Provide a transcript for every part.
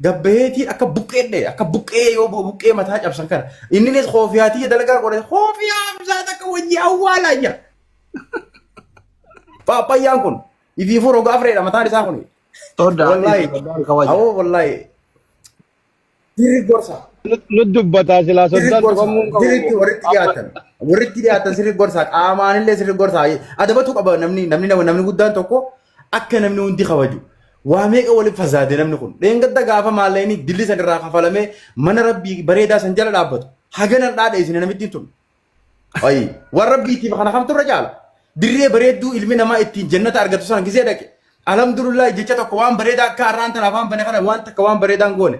Gabbaheetii akka buqqee dhee akka buqqee yoo bu- buqqee mataa cabsan kana inninis koofiyaatii dalagaa godhe koofiyaa bisaa takka wajji awwaalaa jira. Paappayyaan kun ifiifuu roga afreedha mataan isaa kun. Todda Wallaahi. Soddaan kawaja. Awoo wallaahi. Dirri gorsa. Nu dubbataa silaa Sirri soddaan gorsa. dhufamuu hin qabu. Sirriitti walitti dhiyaatan. Walitti dhiyaatan sirri gorsa. Qaamaanillee sirri gorsa. Adabatu qaba namni namni namni guddaan tokko Akka namni hundi kabaju. Waa meeqa waliin fazaade namni kun. Dheengadda gaafa maallaqni dilli san irraa kafalamee mana rabbii bareedaa san jala dhaabbatu. Haganan dhaadheessine namittiin tun. Ayi waan rabbiitiif kana kamtu irra caala. Dirree bareedduu ilmi namaa ittiin jannata argatu sana gisee dhaqe. Alhamdulillah jecha tokko waan bareedaa akka har'aan tana afaan bane kana waan takka waan bareedaan goone.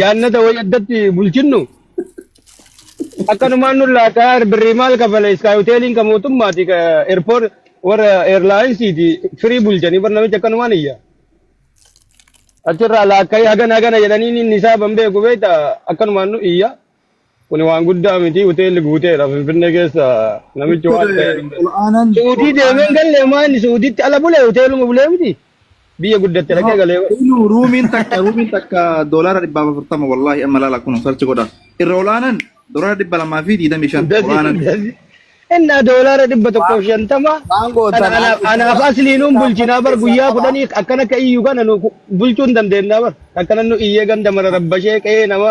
Jaannata wayii addatti bulchinnu akkanumaan nu laataa birrii maal kafala iskaay hoteeliin kan mootummaati ka eerpoor warra eerlaayinsiiti firii bulchanii bar namichi akkanumaan iyya. Achirraa laakkaa'ee hagana hagana jedhanii inni isaa ban beeku beekta akkanumaan nu iyya. Kuni waan guddaa miti hoteelli guuteedha Finfinnee keessa namichi Doktor waan ta'eedha. ol'aanaan Suudii deemee hin ol'aanaan galle maa inni Suudiitti ala bule hoteeluma bulee miti biyya guddatte dhaqee galee bar. inu ruumiin takka ruumiin takka doolaara dhibbaaf afurtama wallaahi amma laala kun sarchi godha irra ol'aanaan doolaara dhibba lamaa fi digdamii shan Dasi ol'aanaan dasi innaa doolaara dhibba tokkoof shantama Waan kan gootan anaaf argitanii anaaf waan asliinuun keessaa bulchinaa bar keessaa guyyaa qabaa. kudhanii akkan akka iyyuu kana nu bulchuu hin dandeenyaa bar akkana nu iyyee ganda mara rabbashee qe'ee nama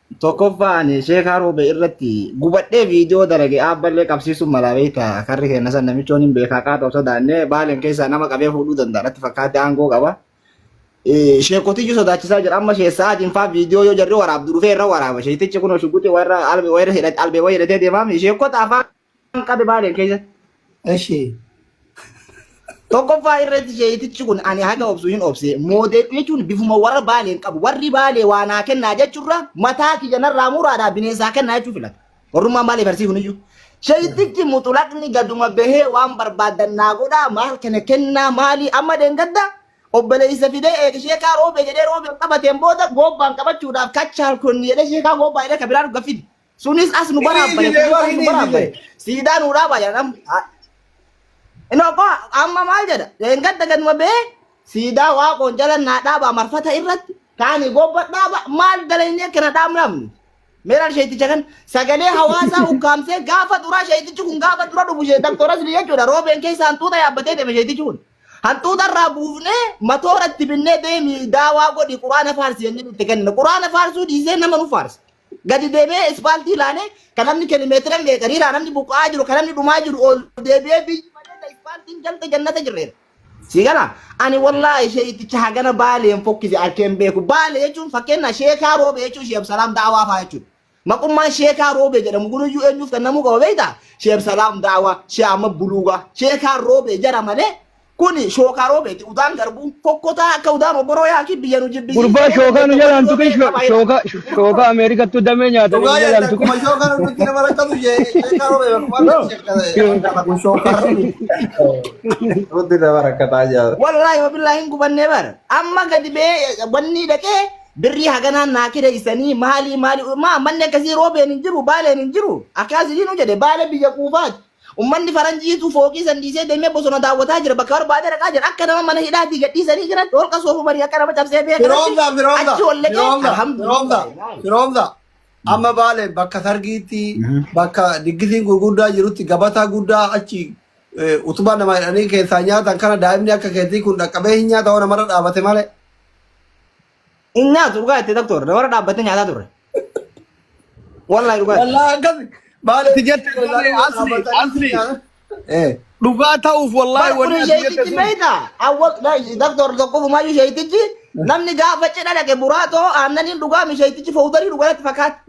Tokkoffaa ani sheekaa roobee irratti gubadhee viidiyoo dalage aabballee qabsiisuun malaa beekta karri keenya san namichoon hin beekaa qaata osoo daannee baaleen keessaa nama qabee fuudhuu danda'a natti fakkaate aangoo qaba. Eh, Sheekotiyyuu sodaachisaa jira amma sheessa adiin faa viidiyoo yoo jarri waraabdu dhufee irra waraaba sheetichi kun shuguxi warra albee wayira hidhate albee wayira hidhatee deemaam sheekota afaan Waan qabe baale keessa. Eshi. Tokkoffaa irratti sheeyitichi kun ani haga obsu hin obse moodee jechuun bifuma warra baalee hin qabu. Warri baalee waa naa kennaa jechuurra mataa kiyya narraa muraadhaa bineensaa kennaa jechuu filata. Warrummaan baalee farsii kuniyyuu. Sheeyitichi muxulaqni gaduma bahee waan barbaadan naa godhaa maal kana kennaa maalii amma deengadda obboleessa fidee eega sheekaa roobee jedhee roobee qabateen booda goobbaan qabachuudhaaf kachaal konni jedhee sheekaa goobbaa jedhee kabiraan gaffidi. Sunis as nu baraabbare. Hiniifine sunis as nu hiniifine. baraabbare. Siidaa nu dhaaba jedhan amma. Ha- Inni obbo amma maal jedha? Leengadda ganuma bee siidaa waaqoon jala naa dhaaba marfata irratti kaani gobba dhaaba maal daleenyee kana dhaabnamni. Meelaan sheeticha kan sagalee hawaasaa ukkaamsee gaafa duraa sheetichi kun gaafa dura dhufu shee daktoras ni jechuudha. Roobeen keessa hantuuta yaabbatee deeme sheetichi kun. Hantuuta irraa buufnee matoora itti binnee deemi daawaa godhi quraana faarsi jennee nutti kenna. Quraana faarsuu dhiisee nama nu faarsa. Gadi deebi'ee ispaaltii ilaalee kan namni kilimeetira illee gariiraa namni buqqa'aa jiru kan namni dhumaa jiru ol deebi'ee biyyi malee ispaaltiin galte jannata jirreera. Sii gala ani wallaahi sheeyiticha hagana baaleen fokkise arkeen beeku baale jechuun fakkeenyaa sheekaa roobee jechuun sheeb salaam daawaa faa jechuudha. Maqummaan sheekaa roobee jedhamu kunuyyuu eenyuuf kennamuu qaba beektaa? Sheeb salaam daawaa, shee amma buluugaa, sheekaa roobee jara malee Kuni shookaa roobeeti udaan garbuu fokkotaa akka udaan obboroo yaakii biyya nu jibbisii Gurbaa shookaa nu jalaan tuqin shookaa shookaa Ameerikattuu damee nyaatan Dhugaa nu jalaan jechuudha. tuqin. Kuma shookaan hundumti nama rakkatu ishee sheekaa roobee bakka waan ta'e sheekaa kun shookaa roobee. Hundumti nama rakkataa jira. Wallaahi wabillaahi hin gubannee bara. Amma gadi bee wanni dhaqee birrii haganaan naa kireessanii maalii maalii maa manni akkasii roobeen hin jiru baaleen hin jiru akkaasii nu jedhe baale biyya quufaati. Ummanni faranjiitu fooqii san dhiisee deemee bosona daawwataa jira. Bakka barbaade dhaqaa jira. Akka nama mana hidhaatii gadhiisanii jiran holqa soofu banii akka nama cabsee bee kanatti Firoomsa, firoomsa, achi ol dhaqee firoomsa, firoomsa, alhamdulillah. firoomsa. Amma baale bakka sargiitti, bakka diggisiin gurguddaa jirutti gabataa guddaa achi eh, utubaa nama hidhanii keessaa nyaatan kana daa'imni akka keetii kun dhaqqabee hin nyaata waan namarra dhaabate malee. Hin nyaatu dhugaa itti doktor. Dabara dhaabbattee nyaataa turre. Wallahi dhugaa itti. Wallaa akkasi. Maali Itti jette malee asli asli. Eh. Dhugaa ta'uuf wallaahi Bar wanni kuni ati jette sheeytichi sun. beeyta. Awwal doktor tokkofumayyuu sheeytichi namni gaafa cidha dhaqe buraatoo aannaniin dhugaa mi sheeytichi fowdarii dhugaratti fakkaatti.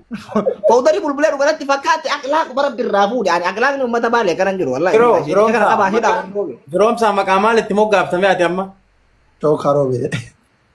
Fowdarii bulbulee dhugaratti fakkaatti akhlaaq bara birraa fuudhe. Ani akhlaaqni uummata baalee kanan jiru wallahi. Yeroo Sheeytichi yeroo kana qabaa hidhaa. Yeroomsaa maqaa maal itti moggaaftame ati amma? Too karoobee.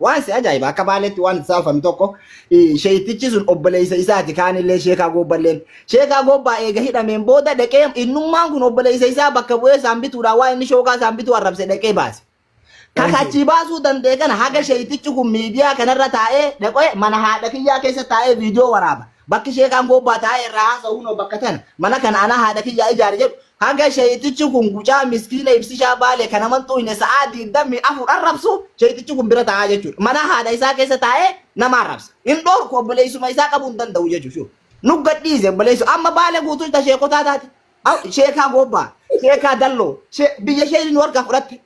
Waan si ajaa'iba akka baaleetti waan itti saalfame tokko sheeyitichi sun obboleessa isaati kaanillee sheekaa goobballeen. Sheekaa goobbaa eega hidhameen booda dhaqee innummaan kun obboleessa isaa bakka bu'ee isaan bituudhaan waan inni shookaa isaan bituu arrabse dhaqee baase. Kan achii baasuu danda'e kana haga sheeyitichi kun miidiyaa kanarra taa'ee dhaqee mana haadha kiyyaa keessa taa'ee viidiyoo waraaba. Bakki sheekaan goobbaa taa'ee irraa haasa'uun bakka tana mana kana anaa haadha kiyyaa ijaare jedhu Haga sheyxichi kun gucaa miskiina ibsishaa baale kana man xuuyne sa'aa 24 arrabsu sheyxichi kun bira taa'aa jechuudha. Mana haadha isaa keessa taa'ee nama arrabsa. Hin dhoorku obboleessuma isaa qabuu hin danda'u jechuudha. Shuu. Nu gadhiise obboleessu amma baale guutuu ta sheekotaa taate. Au, Sheekaa goobbaa, sheekaa dalloo, shee- biyya sheen nu harkaa fudhatte.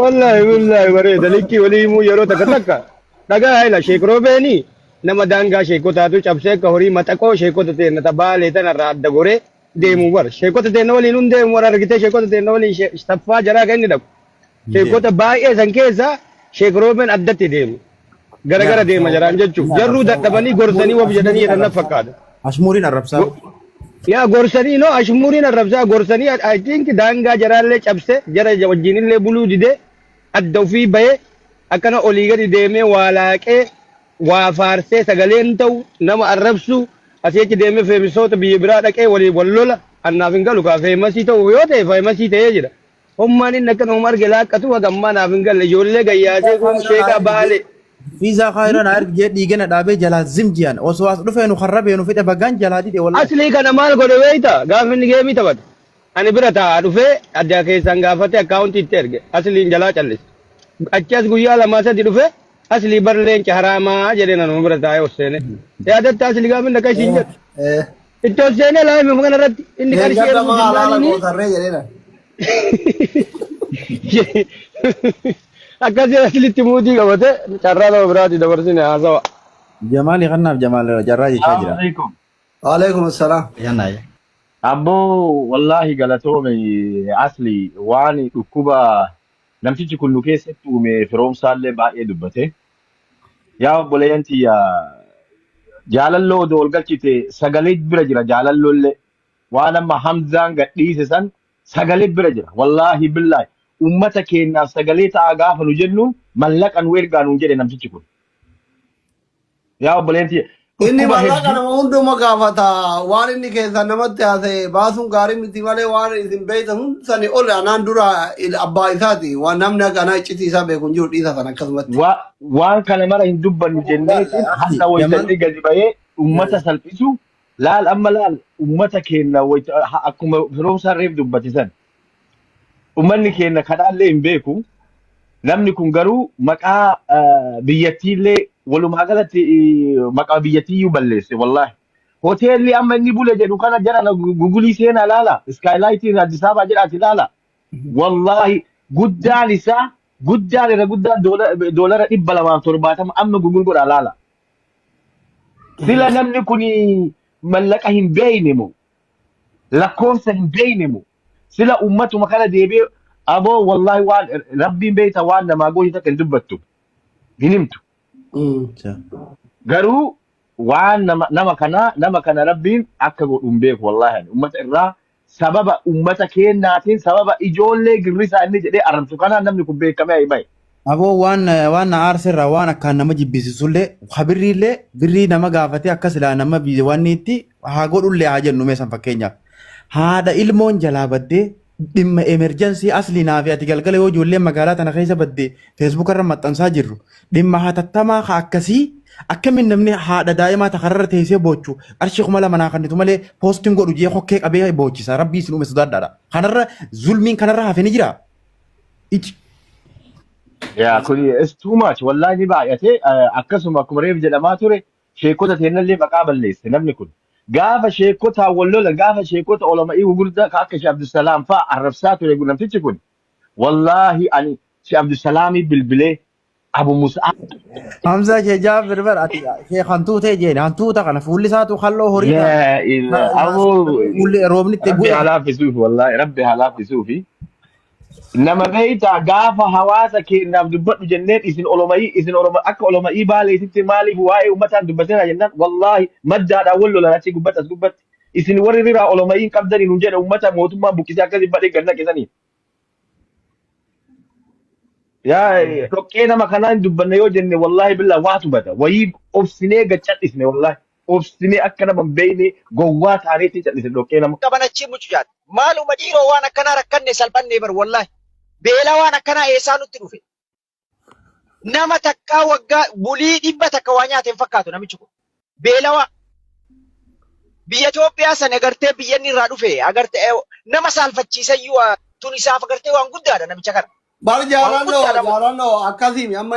Wallaahi wallaahi bareeda likkii walii himuu yeroo takka takka dhagaa haila sheek roobeeni nama daangaa sheekotaatu cabsee akka horii maxaqoo sheekota teenna ta baalee tanarraa adda goree deemu bar sheekota teenna waliin hun deemu war argitee sheekota teenna waliin she- taffaa jaraa kan inni dhaqu Mijeef. Sheekota baay'ee san keessa Sheek Roobeen addatti deemu. Gara gara deema jaraan jechuun. Jarruu dadhabanii gorsanii wabi jedhanii jedhan na fakkaata. Ashmuuriin arrabsaa. Go- Yaa gorsanii noo ashmuuriin arrabsaa gorsanii I think daangaa jaraallee cabse jara wajjinillee buluu dide adda ofii bahe akkana olii gadi deemee waa laaqee waa faarsee sagaleen ta'u nama arrabsu asii achi deemee feemisoota biyya biraa dhaqee walii wal lola annaaf hin galu kaa feemasii ta'u yoo ta'e feemasii ta'ee jira Hommaan inni akka nama arge laaqqatu haga ammaa naaf hin galle. Ijoollee gayyaasee kun sheekaa baale. Fiizaa kaayiroo na argee dhiigana dhaabee jalaa zim ji'an osoo as dhufee nu harrabee nu fide bagaan jalaa dide wallahi. Aslii kana maal godhe beeyta? Gaafa inni geemii taphatu. Ani bira taa'aa dhufee adda keessaan gaafate akkaawuntii itti erge. Asliin jalaa callise. Achi as guyyaa lamaa sadi dhufee aslii bar leenca haraamaa jedhee nanuma bira taa'ee osseene. Yaadatta aslii gaafa inni akka ishiin jedhu. Eh, eh. Iddoo seenee laayime maqaan irratti inni qarshii Deeggarsa erguu maa alaala jennaan gootarree jedheera. akkasii aslitti muutii qabate carraa nama biraati dabarsine haasawa. Jamaali kannaaf Jamaal carraa jechaa Salaamu jira. alaikum. Waalaikum salaam. Yana ya. Abboo wallaahi galatoome asli waan dhukkuba namtichi kun nu keessatti uume firoomsaallee baay'ee dubbate. Yaa obboleeyyan tiyya jaalalloo odoo ol galchite sagalee bira jira jaalalloo illee waan amma Hamzaan gadhiise san sagalee bira jira wallaahi billaahi ummata keenyaaf sagalee ta'aa gaafa nu jennuun mallaqa nu ergaa nuun jedhe namtichi kun yaa obboleeyyan tiyya Inni dhukkuba mallaqa hedduu nama hunduma gaafata. Waan inni keessaa namatti haasa'e baasuun gaarii miti malee waan isin beektan hundi sani ol anaan dura il- abbaa isaati. Waan namni akka anaa iccitii isaa beeku hin jiru dhiisa sana akkasumatti. waa- waan kana mara hin dubbannu Abo laal jenneetiin akhi har'a wayita yaman inni gadi ba'ee eh, ummata salphisu laal amma laal ummata keenya wayita ha- akkuma firoomsaan reef dubbate san. Ummanni keenya kadhaallee hin beeku. Namni kun garuu maqaa eh, biyyattiillee walumaa galatti eh, maqaa biyyattiiyyuu balleesse wallaahi. Hoteelli amma inni bule jedhu kana jarana gugulii seenaa ilaala. Iskaayilaayitiin Addis Ababaa jedhaati ilaala. Wallaahi guddaan isaa guddaan irra guddaan doola- doolara dhibba lamaaf torbaatama amma gugul godhaa ilaala. Sila namni kun mallaqa hin beekne moo lakkoofsa hin beeyne moo sila ummatuma kana deebi'ee aboo wallaahi waan rabbiin beeyta waan namaa goote takka hin dubbattu hin himtu Incha. garuu waan nama, nama kana nama kana rabbiin akka godhu hin beeku wallaahi ani ummata irraa sababa ummata keennaatiin sababa ijoollee girrisaa inni jedhee arrabsu kanaan namni kun beekamee himame Aboo waan na waan na aarse irraa waan akkaan nama jibbisiisullee ha birriillee birrii nama gaafatee akka silaa nama biyya waan itti haa godhullee haa jennu meeshaan fakkeenyaaf. Haadha ilmoon jalaa baddee dhimma emerjensii asli naa fi ati galgala yoo ijoollee magaalaa tana keessa baddee feesbuuka irra maxxansaa jirru dhimma hatattamaa ka akkasii akkamiin namni haadha daa'imaa takka irra teessee boochu qarshii kuma lama naa kennitu malee poostiin godhu jee kokkee qabee boochisa rabbii isin uume sodaadhaadha. Kanarra zulmiin kanarra hafe ni jira. ici Yaa kun it's too much wallahi ni baay'ate Eh, akkasuma akkuma reef jedhamaa ture sheekota teennallee maqaa balleesse namni kun gaafa sheekotaa wal lola gaafa sheekota olama'ii gugurdaa ka akka Shee Abdusalaam faa arrabsaa ture namtichi kun wallahi ani Shee Abdusalaamii bilbilee Abu Mus'ab Hamza kee jaabir bar ati kee hantuutee jeeni hantuuta kana fuulli isaatu halloo horii ta laa ta- ilaa ta- aboo fuulli roobni itti rabbi bu'e. halaafisuuf wallaahi rabbi halaafisuufi nama beeytaa gaafa hawaasa keenyaaf dubbadhu jenneen isin oloma'ii isin oloma akka oloma'ii baaleetitti maaliif waa'ee ummataan dubbateera jennaan wallaahi maddaadhaan wal lolan achi gubbatti as gubbatti isin warri riraa oloma'ii hin qabdanii nuun jedhe ummata mootummaan buqqisee akkasi badhe gannaqe saniin yaa eh, dhoqqee nama kanaa hin dubbanne yoo jenne wallaahi billaa waatu bada wayii obsinee gad cadhisne wallaahi obsinee akka nama hin beeyne gowwaa taaneetiin cadhisne dhoqqee nama qaban achii mucucaat. Maaluma dhiiroo waan akkanaa rakkanne salphannee bar wallahi. Beela waan akkanaa eessaa nutti dhufe. Nama takkaa waggaa bulii dhibba takka waa nyaate hin fakkaatu namichi kun. Beelawaa. Biyya Itoophiyaa sana agartee biyya inni irraa dhufe agartee eh, nama saalfachiisayyuu ah, tun isaaf agartee waan guddaadha namicha kana. Bar Waan jaalanno guddaadha kun. jaalanno akkasiimi amma